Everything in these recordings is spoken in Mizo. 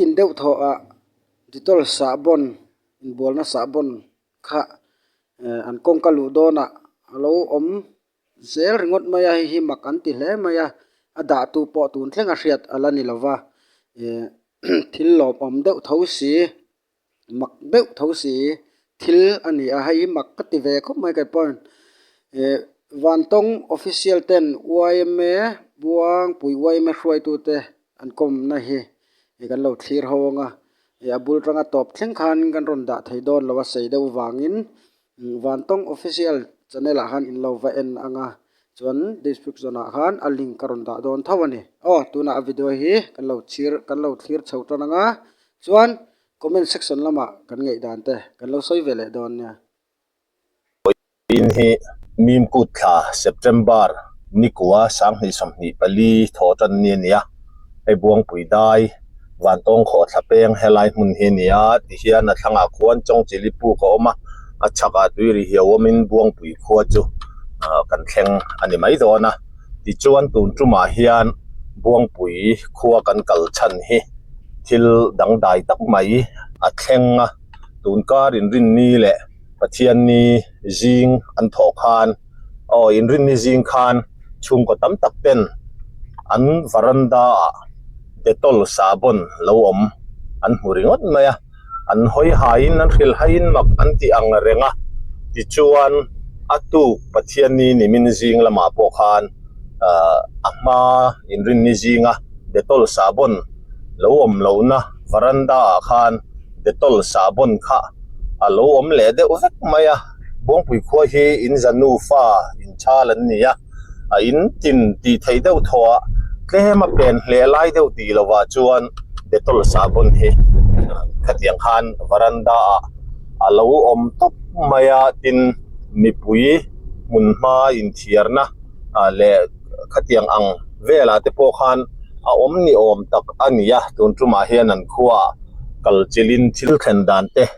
In deuh thawh ah Dettol sahbawn inbualna sahbawn kha an kawngka luh dawn ah a lo awm zel ringawt mai a hei hi mak an ti hle mai a a dah tu pawh tun thleng a hriat a la ni lo va thil lawmawm deuh tho si. mak deuh tho si hi thil a ni a hei hi mak ka ti ve khawp mai ka pawn eh vantawng official ten yma buangpui yma hruaitu te an kawmna hi ih kan lo thlir haw ang a eh a bul tanga tawp thleng khan kan rawn dah thei dawn lo a sei deuh vangin. Vantawng Official Channel ah khan in lo va en ang a, chuan Description ah khan a link ka rawn dah dawn tho a ni. Aw, tunah a video hi kan lo chhir, kan lo thlir chho tan ang a, chuan Comment Section lamah kan ngaih dan te kan lo sawi ve leh dawn nia. Puiin hi Mim kut thla, September, Nikua, Sanghnih sawmhnih pali thawh tan ni a nia, hei buangpuidai. vantawng khaw thla peng helai hmun hi a ni a ti hian a thlangah khuan chawngchilli puk a awm a a chhakah tui ri hia awm in buangpui khua chu ah kan thleng a ni mai dawn a tichuan tun tumah hian buangpui khua kan kal chhan hi thil dangdai tak mai a thleng a tun karin rinni leh pathianni zing an thawh khan-- Aw inrinni zing khan chhungkaw tam tak ten an varanda ah Dettol sahbawn lo awm an hmu ringawt mai a, an hawi hai in an hril hai in mak an ti ang reng a, tichuan a tuk Pathianni nimin zing lamah pawh khan a hma inrinni zinga Dettol sahbawn lo awm lo na varanda ah khan Dettol sahbawn kha a lo awm leh deuh vek mai a. Bawngpui khua hi Inza nufa inchal an ni a, a in tin tih theih deuh thawha tlem a pen hle lai deuh tih lovah chuan Dettol sahbawn hi khatiang khan varanda ah a lo awm tawp mai a, tin mipui hmun hma inthiarna leh khatiang ang velah te pawh khan a awm ni awm tak a ni a, tun tumah hian an khua ah kalchilhin thil thlen dan te,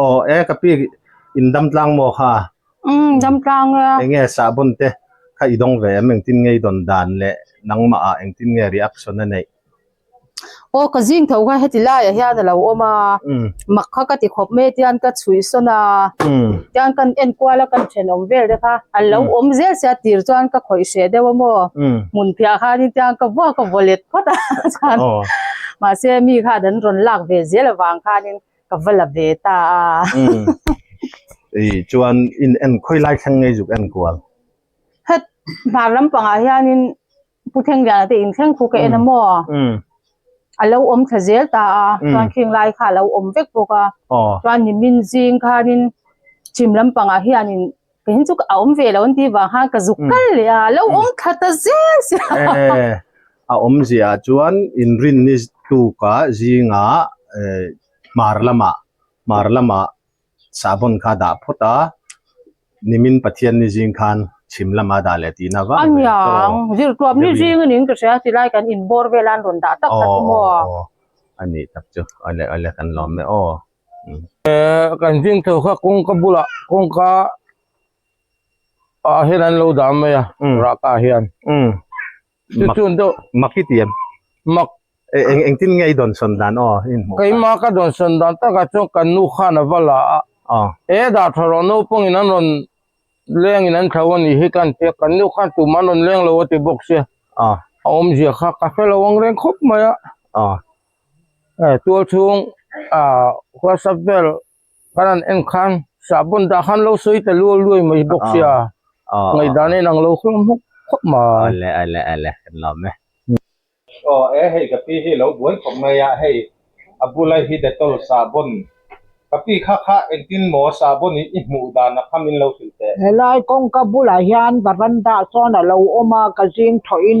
Aw e ka pi in dam tlang maw kha? Um dam tlang a. Enge sahbawn te kha i dawng ve em engtin nge i dawn dan leh nangmah ah engtin nge reaction a neih? Aw ka zing tho kha heti lai ah hian a lo awm a, mak kha ka ti khawp mai a tian ka chhuihsawn a, tian kan en kual a kan then awm vel te kha an lo awm zel se a tir chuan ka khawih hreh deuh a maw? Hmunphiah khan in tian ka va ka vawlet phawt a mahse mi kha an rawn lak ve zel avang khan in. Ka va la ve ta a. Umm. Ih, chuan in en khawi lai thleng ngei zuk en kual. Hett, hnar lampangah hianin Pu Thlengviana te in thleng khu ka en a maw? Umm. A lo awm thla zel ta a, chuan khinglai kha a lo awm vek bawk a. Aw. Chuan nimin zing khanin chim lampangah hianin. Keihin chu a awm ve lo an tih vang khan ka zuk hmm. kal leh a, lo hmm. awm khat a zel se. Eh, a awm zia ah chuan inrin ni tuka zinga eh, mar lama mar lama sabon kha dah phawt a nimin pathian ni zing khan chim lama dah leh tina vang aniang zirtuam ni zing anin ka hria ti lai kan in bor velan rawn dah tak tak maw ani tak chu ale ale kan lawm me aw kan zing chho kha kawngka bulah kawngka ah hian an lo dan mai a raka ah hian chu chun deuh maki ti em mak eng eng tin nge i dawn sawn dan aw i hmuh keimah ka dawn sawn dan tak ah chuan kan nu khan a va la a e dah tha rawh naupang in an rawn leng in an tho a nih hi ka han tia kan nu khan tumah an rawn leng lo a ti bawk sia a awmzia kha ka hre lo angreng khawp mai a. tual chhung hualsak vel kan rawn en khan sahbawn dah khan lo sawi ta luau luai mai bawk sia, ngaihdan a inang lo hlawm hawk hawk mai. Helai kawngka bulah hian varanda ah sawn a lo awm a ka zing thawhin.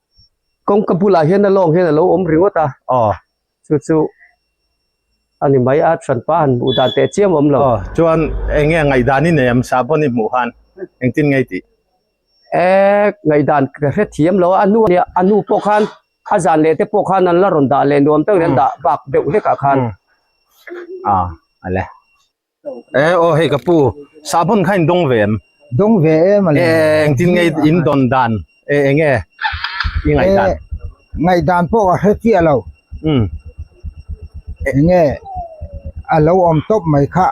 kawngka bulah hian a lawng hian a lo awm ringawt a aw chu chu a ni mai a thian pa han hmuh dan teh chiam awm lo aw chuan eng nge ngaih dan i nei ang sa pawn i hmuh han engtin ngei tih eh ngaih dan ka hre thiam lo a a nu a nia a nu pawh khan a zan leh te pawh khan an la rawn dah leh nuam tak in an dah bak deuh hlekah khan a a le. Eh aw hei ka pu, sahbawn kha in dawng ve em? Dawng ve em a le. Eh eng tin nge in dawn dan e eng nge i ngaih dan? Eh ngaih dan pawh a hre chiah lo. Umm. Eng nge a lo awm tawp mai kha.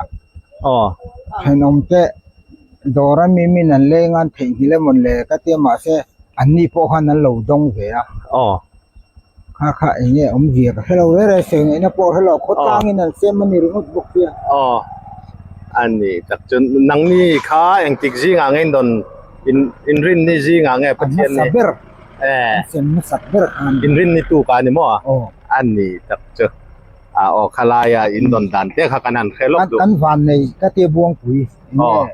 Aw. Thenawm te dawr a mimin an leng a an theih nghi lem un le ka tia mahse anni pawh khan an lo dawng ve a. Aw. Kha kha eng nge awm zia ka hrelo ber a, sawi ngaihna pawh a hrelo a, khawtlangin an sem a ni ringawt bawk pia. Aw, a ni tak chuan nangni kha engtik zingah ngeiin dawn inrinni zingah nge Pathian nih. An hmasa ber. Ae. An sem nasat ber kha a ni. Inrinni tu kha a ni maw? Aw. A ni tak chu. Aw, khalaia in dawn dan te kha kan han hre lawk duh. Kan vannei ka te buangpui eng nge.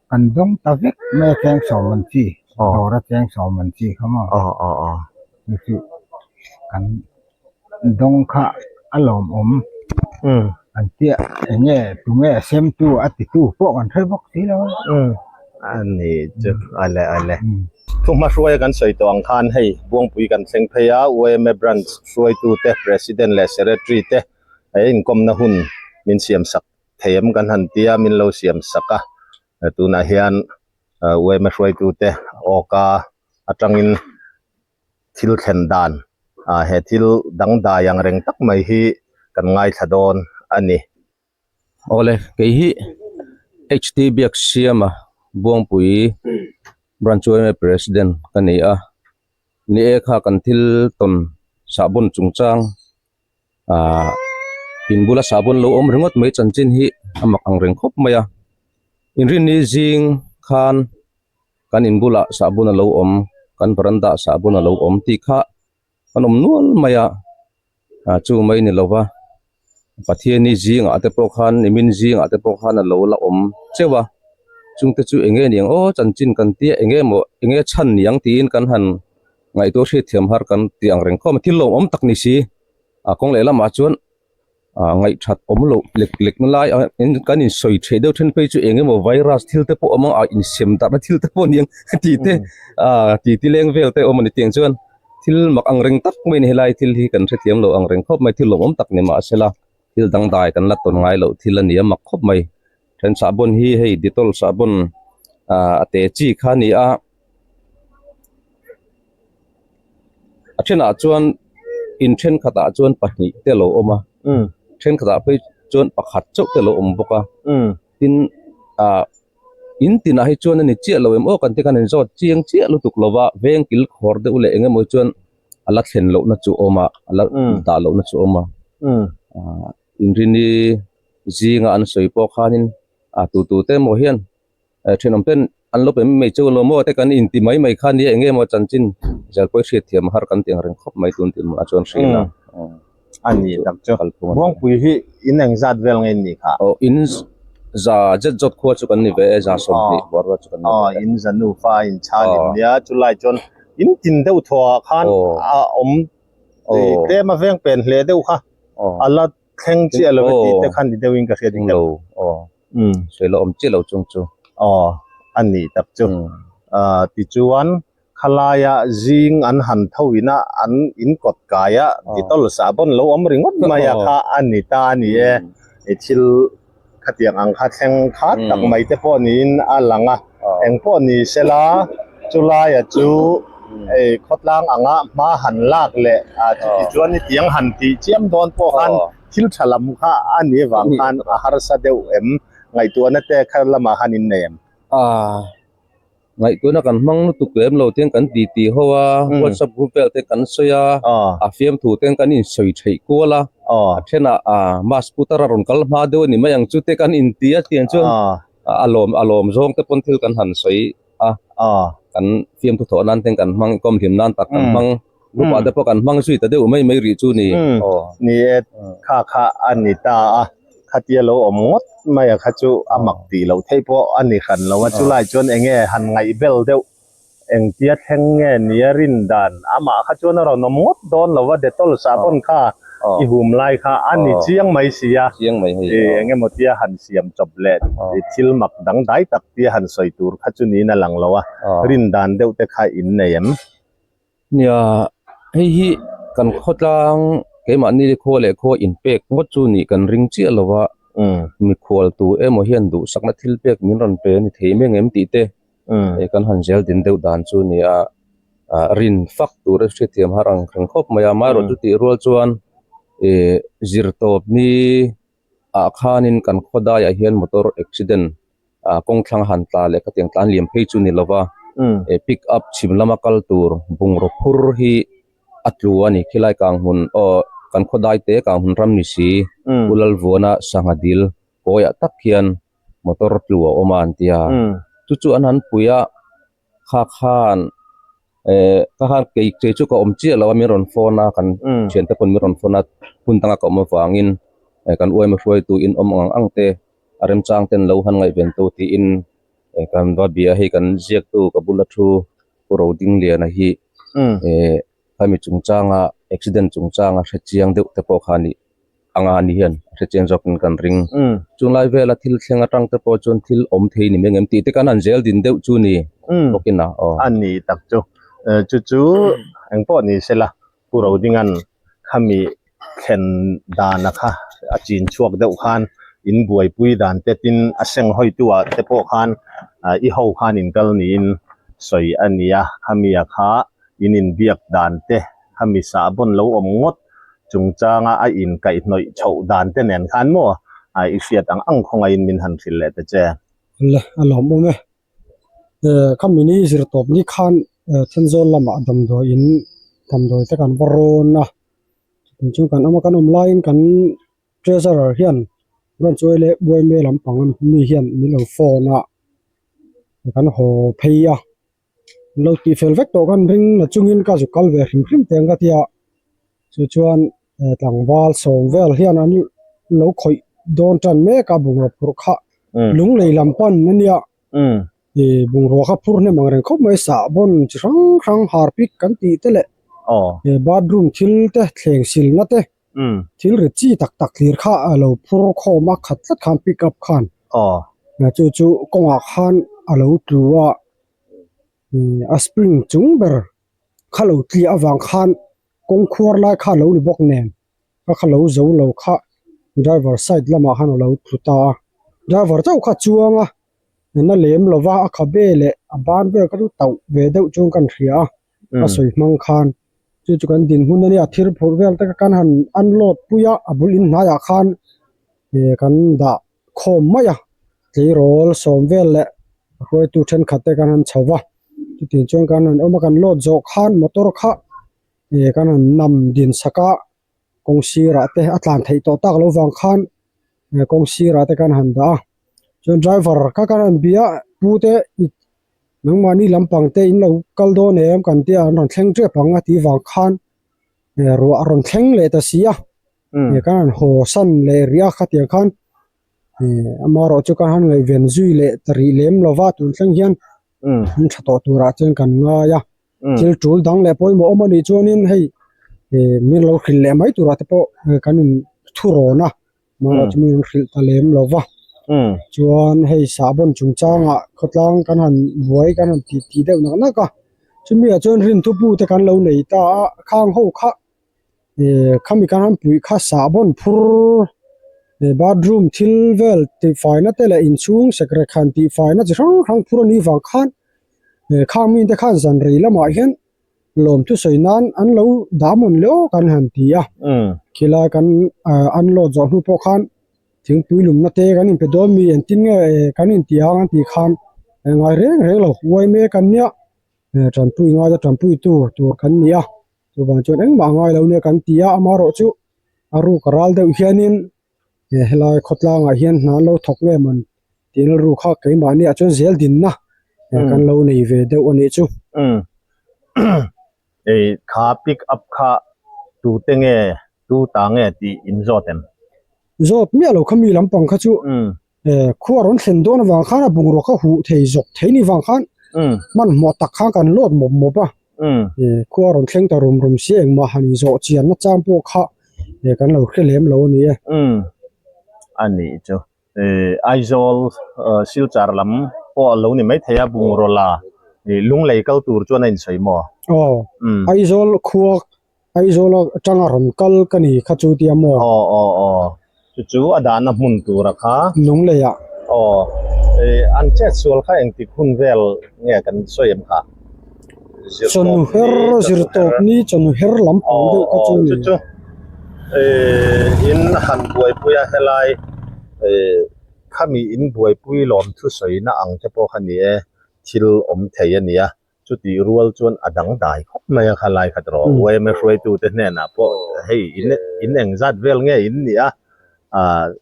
Kan dawng ta vek maia tleng sawm an chi, dawra tleng sawm an chi kha maw? Chuchu kan dawng kha a lawmawm an tia enge tunge a semtu a titu pawh kan hre bawk si lo. A ni chu, awle awle. Thuhma hruaia kan sawi tawh ang khan hei Buangpui kan thleng phei a, UMA branch hruaitute, president leh secretary te, he inkawmna hun min siamsak thei em kan han tia min lo siam sak a, tunah hian uaima hruaitute awk a atangin thil thlen dan ah he thil dangdai ang reng tak mai hi kan ngaithla dawn a ni. Awle kei hi HT biak siam a Buangpui branch uaima president ka ni a, ni e kha kan thil tawn sahbawn chungchang ahh in bula sahbawn lo awm ringawt mai chanchin hi a mak ang reng khawp mai a inrinni zing khan kan in bulah sahbawn a lo awm kan varanda ah sahbawn a lo awm tih kha an awm nual mai a ahh chu mai ni lo va Pathianni zingah te pawh khan nimin zingah te pawh khan a lo la awm chauh a chungte chu eng nge ni ang aw chanchin kan tia eng nge maw eng nge chhan ni ang tiin kan han. Ngaihtur hriatthiam har kan tih ang reng khawm a, thil lawmawm tak ni si. A kawng leh lamah chuan ngaihṭhat awm loh lek lek na lai a, kan insawi ṭheh deuh ṭhen phei chu eng emaw virus thil te pawh awm ang a, insem darhna thil te pawh a ni ang tih te, titi leng vel te awm a ni. Tiang chuan thil mak angreng tak mai a ni, helai thil hi kan hrethiam loh angreng khawp mai, thil lawmawm tak ni mahse la. Thil dangdai kan la tawn ngai loh thil a ni a mak khawp mai. Then sahbawn hi hei Dettol sahbawn ah a te chi kha a ni a. A thenah chuan in thenkhat ah chuan pahnih te lo awm a, thenkhat ah phei chuan pakhat chauh te lo awm bawk a. Tin ah in tinah hi chuan a ni chiah lo em aw kan tih khan in zawt chiang chiah lutuk lo va, vengkil khawr deuh leh eng emaw hi chuan, a la thlen lohna chu awm a a la dah lohna chu awm a ah inrini zinga an sawi pawh khanin ah tu tu te emaw hian eh thenawm ten an lo pe mai mai chu emaw te kan inti mai mai kha nia eng nge maw chanchin zirpuii hriat thiam a har kan tih ang reng khawp mai tun tih mahah chuan hriatna. a nih tak chu kalpui Hawngpui hi in eng zat vel nge nih kha? Aw in za zet zawt khua chu kan ni ve e, za sawmhnih buarua chu kan ni ve e. Aw in za nufa in chhan in nia, chulai chuan in tin deuh thuah khan a awm tlem a veng pen hle deuh kha a la thleng chiah lo e tih te khan ni deuhin ka hria ding lo. Sawi la awm chiah lo chung chu. Aw a nih tak chu ti chuan Khalaia zing an han tho ina an in kawt kaia details ah pawn lo awm ringawt mai a kha a ni ta a ni e. I thil khatiang ang kha thleng khat tak mai te pawh niin a lang a, eng pawh ni se la chu laia chu ei khawtlang anga hma han lak leh chuti chuan i tiang han tih chiam dawn pawh khan thil tha lam kha a ni avang khan a harsa deuh em? Ngaihtuahna te kha lamah han in nei em? A. Ngaihtuahna kan hmang lutuk lem lo ten kan ti ti ho a, WhatsApp group vel te kan sawi a, a fiam thu ten kan in sawi theih kual a, a then ah ma scooter a rawn kal hma deuh a ni mai ang chu te kan in ti a, tiang chuan a lawm a lawm zawng te pawn thil kan han sawi a, kan fiam thu thawh nan ten kan hmang i kawm hlim nan tak kan hmang. Upa te pawh kan hmang zui ta deuh mai mai rih chu ni. Umm ni e, kha kha a ni ta a, khatia lo awm ngawt mai a kha chu a mak tih loh theih pawh a ni hran lo a, chulai chuan enge han ngaih bel deuh, engtia thleng nge nia rin dan, amah kha chuan a rawn awm ngawt dawn lo a, Dettol sahbawn kha i hum lai kha a ni chiang mai si a, i engemaw tia han siam chawp leh i thil mak dang dai tak tia han sawi tur kha chu niin a lang lo a, rin dan deuh te kha in nei em? Nia, hei hi kan khawtlang keimahni le khaw leh khaw inpek ngawt chu nih kan ring chiah lo a, mikhual tu emaw hian duhsakna thil pek min rawn pe a ni thei meng em tih te kan han zel din deuh dan chu nia, rin fak tur a hriatthiam har ang theng khawp mai a, amaherawhchu tihrual chuan zir tawp hi. ah khanin kan khaw daiah hian motor accident ah kawng thlang a han tla leh ka tiang tlan liam phei chu ni lova e pick up chhim lama kal tur bungraw phur hi a tlu a ni khilai kang hun aw kan khaw dai te kang hun ram ni si u lalvuana sangha dil kawiah tak hian motor tlu a awm a an tia chu chu an han pui a. kha khan eh kha khan kei kei chu ka awm chiah lo a min rawn phone a kan thian te pawn min rawn phone a hun dang aka awm avangin eh kan uaima hruaitu in awm ang ang te a remchang ten lo han ngaih veng tawh tiin eh kan va bia hei kan ziaktu ka bula thu pu Ro Ding Liana hi eh Hemi chungchanga accident chungchanga hrechiang deuh te pawh kha nih anga ni hian a hrechiang zawkin kan ring. Chunglai vela thil thleng atang te pawh chuan thil awm thei ni meng em tih te kan han zel din deuh chu ni bawk ina aw. A ni tak chu. Chu chu engpawh ni sela Pu Rodinga'n khami thlen dan a kha a chin chhuak deuh khan in buaipui dan te tin a seng hawitu ah te pawh khan i ho khan in kal niin sawi a ni a, khami a kha in in biak dan te khami sahbawn lo awm ngawt chungchang a a in kaih hnawih chhoh dan te nen khan maw i hriat ang ang khawnga in min han hrilh leh ta che. Hla a lawm awm e. Khami zirtawp ni khan Thenzawl lamah damdawiin damdawi te kan va rawn a, chung chu kan awma kan awm laiin kan treasurer hian Ramchawii leh Buaime lampang a mi hian min lo phone a kan haw phei a, min lo tihfel vek tawh khan ring a chungin ka zu kal ve hrim hrim te ang ka tia chu chuan-- he tlangval sawm vel hian an lo khawih dawn tan mek a bungraw phurh kha lung lei lam pan a nia ih bungraw kha phur hnem ang reng khawp mai sahbawn chi hrang hrang harpic kan tih te leh he bathroom thil te thleng silna te thil rit chi tak tak lir kha a lo phur khawm a khat tlat khan pick up khan chu chu kawngah khan a lo tlu a ih a spring chung ber kha lo tliah avang khan-- Kawng khuar lai kha lo ni bawk nen ka kha lo zo lo kha driver side lamah khan alo tlu ta a, driver chauh kha chuang a na lem lo va a khabe leh a ban ber ka ru tauh ve deuh chuan ka rawn hria a sawi hmang khan chu chu kan din hun ania thir phurh vel te ka kan han unload pui a a bul in hnai ah khan kan dah. khawm mai a, tleirawl, sawmvel leh a hruaitu thenkhat te kan han chho va, chutih chuan kan rawn awm a, kan load zawh khan motor kha ih kan rawn nam din sak a, kawng sirah te a tlan theih tawh tak lo vang khan ih kawng sirah te kan han dah a, chuan driver kha kan rawn bia pu te ih nangmahni lampang te in lo kal dawn em kan tia an rawn thleng tep ang a tih vang khan ih ruah a rawn thleng leh ta si a. Eng kha an haw san leh ri a khatiang khan amarawh chu kha han ngaihven zui leh ta rih lem lo va tun thleng hian an tha tawh turah chuan kan ngai a thil tul dang leh pawimawh awm anih chuanin hei min lo hrilh leh mai turah te pawh kan in thu rawn a amarawh chu min an hrilh ta lem lo va chuan hei sahbawn chungchangah khawtlang kan han buai kan han ti ti deuh nak nak a chumi ah chuan rintupu te kan lo nei ta a khang ho kha. ihh khami khan han puih kha sahbawn phur ihh bathroom thil vel tihfaina te leh inchhung sekrekhan tihfaina chi hrang hrang phur anih vang khan ihh khang mite khan zanri lamah hian lawm thusawi nan an lo dah hmun leh awk an han ti a khilai kan ahh unload zawh hnu pawh khan thingpui lumna te kan inpe dawn mi engtin nge ehh kan inti ang an tih khan a ngai reng reng lo uai mek an nia ehh ṭanpui ngaina ṭanpuitu tur kan ni a. Chuvang chuan engmah a ngailo nia kan ti a, amaherawh chu a ruk a ral deuh hianin he helai khawtlangah hian hna an lo thawk em an tih na ruk a, keimahniah chuan Zeldinna kan lo nei ve deuh a nih chu. Hei tha pick up kha tute nge, tuta nge tih in zawt em? Zawt miahlo kha mi lampang kha chu Eh, khu a rawn thlen dawn avang khan a bungrua ka huh thei zawk thei ni vang khan hmm. man hmuah tak khan kan lawt mawp mawp a hmm. eh, khu a rawn thleng ta rum rum si engmah han zawh chian na chang pawh kha eh, kan lo hre lem lo ni e hmm. ani chu eh, Aizawl eh, Silchar lam pawh a lo ni mai thei a bungrua la eh, lunglei kal tur chuan a insawi maw oh, hmm. Aizawl khuak Aizawl a tanga rawn kal ka ni kha chu tia maw? Aw aw aw, chu chu a dahna hmun tur a kha. Nunglei ah. Aw, eh, an chet sual kha engtik hun vel nge kan sawi em kha? Zirtawp ni, chawnu her. Zirtawp ni, chawnu her lam pawng deuh kha chu a ni. Aw aw, chu chu, eh, in han buaipui a helai, eh, khami in buaipui lawm thusawi na ang te pawh kha ni e, thil awm thei a nia. Chutih rual chuan a dangdai khawp mai a kha lai khat rawh, uaima hruaitute hnenah pawh hei in eng zat vel nge in nih a,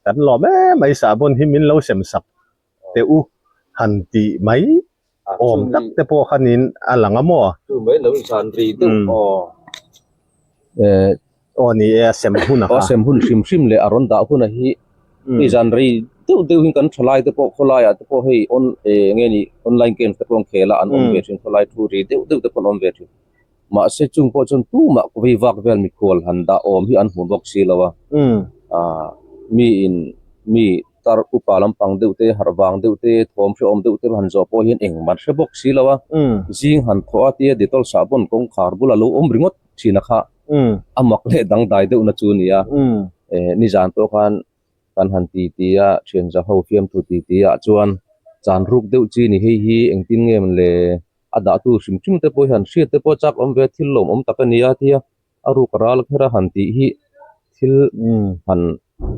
kan lawm e mai sa bun hi min lo sem sak teh u han tih mai awm tak te pawh khanin a lang a maw. Chu mai lo insan ri deuh aw. Aw ni e, a sem hun a kha. A sem hun hrim hrim leh a rawn dah hun a hi. Hei zan rei deuh deuhin kan thalai te pawh, khawlaiah te pawh hei on eh nge ni online games te pawh an khel a, an awm ve thin. Khawlai thu ri deuh deuh te pawh an awm ve thin. Mahse chung pawh chuan tumah khawvei vak vel mikhual han dah awm hi an hmu bawk si lo a. Aah mi in mi tar upa lampang deuh te, harh vang deuh te, thawm hre awm deuh te han zawh pawh hian engmah hre bawk si lo a. Zing han thawh a tia Dettol sahbawn kawngkhar bula lo awm ringawt. thina kha a mak leh dangdai deuhna chu a ni a, eh nizan pawh khan kan han ti ti a, thianza ho fiam thu ti ti ah chuan chan ruk deuh chi ni hei hi engtin nge em le, a dahtu hrim hrim te pawh hi han hriat te pawh chak awm ve a, thil lawmawm tak a ni a tia a ruka ral kher a han tih hi thil han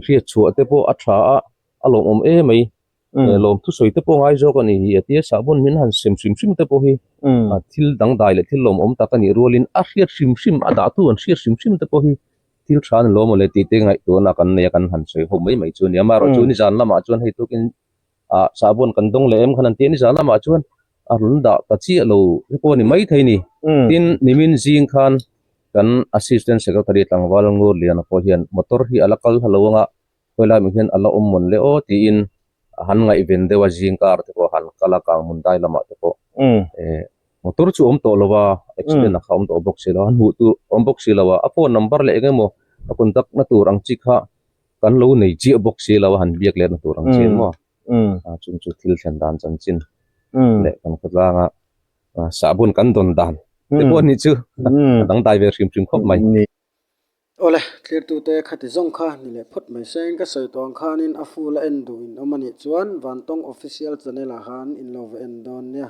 hriat chhuah te pawh a tha a, a lawmawm emai. he lawm thusawi te pawh ngai zawk a ni hi a ti a, sahbawn min han sem hrim hrim te pawh hi thil dangdai leh thil lawmawm tak a nih rualin a hriat hrim hrim a dahtu an hriat hrim hrim te pawh hi thil tha ni lawm awle tihte ngaihtuahna kan nei a kan han sawi ho mai mai chu a ni a, amaherawhchu a ni zan lamah chuan hei tukin ah sahbawn kan dawng leh em khan an ti a, a ni zan lamah chuan a rawn dah ta chiah lo te pawh a ni maithei ni. Tin, nimin zing khan kan Assistant Secretary Tlangval Ngurliana pawh hian motor hi a la kal halo ang a, Khawilai mi hian a la awm mawn le aw tiin han ngaihven deuh a, zing car te pawh han kal a, kang hmun dai lamah te pawh eh motor chu a awm tawh lo va, accident a kha awm tawh bawk si lo, han hmuh tur a awm bawk si lo a, a phone number leh eng nge maw a contact na tur ang chi kha kan lo nei chiah bawk si lo a, han biak leh na tur ang chin maw a, chung chu thil thlen dan chanchin leh kan khawtlang a sahbawn kan dawn dan te pawh a nih chu a dangdai ve hrim hrim khawp mai. Awle, tlirtute khati zawng kha ni leh phawt mai se. Engka sawi tuang khanin a fool a en duhin awm anih chuan vantawng official channel ah khan in lo va en dawn nia.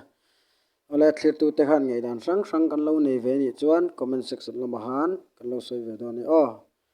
Awle, tlirtute khan ngaihdan hrang hrang kan lo nei ve anih chuan comment section lamah khan kan lo sawi ve dawn e aw.